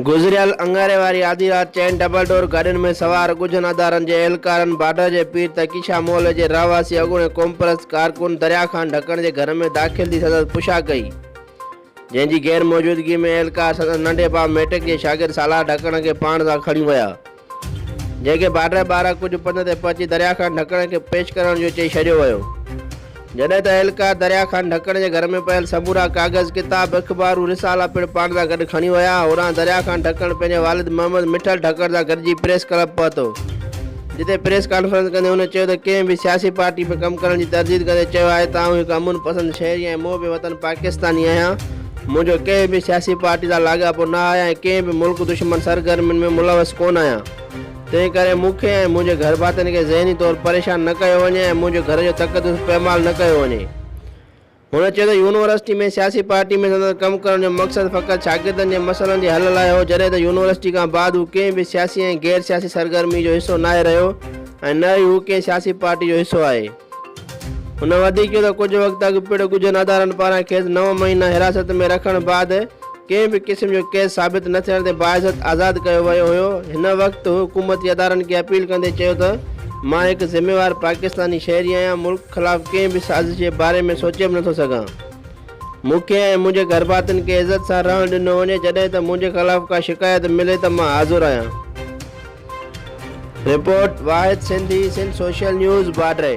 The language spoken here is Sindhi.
گذريل اڱاري واري آڌي رات چئن ڊبل ڊور گاڏين ۾ سوار ڳجهن ادارن جي اهلڪارن بارڊر جي پير تقيشا محلي جي رهواسي اڳوڻي قومپرست ڪارڪن دريا خان ڍڪڻ جي گهر ۾ داخل ٿي سندس پڇا ڪئي جنهن جي غير موجودگي ۾ اهلڪار سندس ننڍي ڀاء ميٽڪ جي شاگرد سالار ڍڪڻ کي پاڻ سان کڻي ويا، جنهن کي بارڊر ٻاهران ڪجهه پنڌ تي پهچي دريا خان ڍڪڻ کي پيش ڪرڻ جو چئي ڇڏيو ويو. جڏهن ته اهلڪار دريا خان ڍڪڻ جي گهر ۾ پيل سمورا ڪاغذ، ڪتاب، اخبارون، رسالا پڻ پاڻ سان گڏ کڻي ويا. هوڏانهن دريا خان ڍڪڻ پنهنجي والد محمد مٺل ڍڪڻ سان گڏجي پريس ڪلب پهتو. جتي پريس ڪانفرنس ڪندي هن چيو ته ڪنهن به سياسي پارٽي ۾ ڪم ڪرڻ جي ترديد ڪندي چيو آهي ته آئون هڪ امن پسند شهري ۽ محب وطن پاڪستاني آهيان، منهنجو ڪنهن به سياسي پارٽي سان لاڳاپو نه آهي ۽ ڪنهن به ملڪ دشمن سرگرمين ۾ ملوث ڪونه آهيان، تنهن ڪري مون کي ۽ منهنجي گهرڀاتين کي ذهني طور پريشان نه ڪيو وڃي ۽ منهنجي گهر جو تقدس پيمال نه ڪيو وڃي. هن چيو ته يونيورسٽي ۾ سياسي پارٽي ۾ سندس ڪم ڪرڻ جو مقصد فقط شاگردن جي مسئلن جي حل لاء هو جڏهن ته يونيورسٽي کان بعد هو ڪنهن به سياسي ۽ غير سياسي سرگرمي جو حصو ناهي رهيو ۽ نه ئي هو ڪنهن سياسي پارٽي جو حصو آهي. هن وڌيڪ چيو ته ڪجهه وقت اڳ پڻ ڳجهن ادارن پاران کيس نو مهينا حراست ۾ رکڻ بعد ڪنهن به قسم جو ڪيس ثابت نه ٿيڻ تي باعزت آزاد ڪيو ويو هيو، هن وقت هو حڪومتي ادارن کي اپيل ڪندي چيو ته مان هڪ ذميوار پاڪستاني شهري آهيان، ملڪ خلاف ڪنهن به سازش جي باري ۾ سوچي به نٿو سگهان، مون کي ۽ منهنجي گهرڀاتين کي عزت سان رهڻ ڏنو وڃي، جڏهن ته منهنجي خلاف ڪا شڪايت ملي ته مان حاضر آهيان. Report, Wahid Sindhi, Sindh social news, Badri.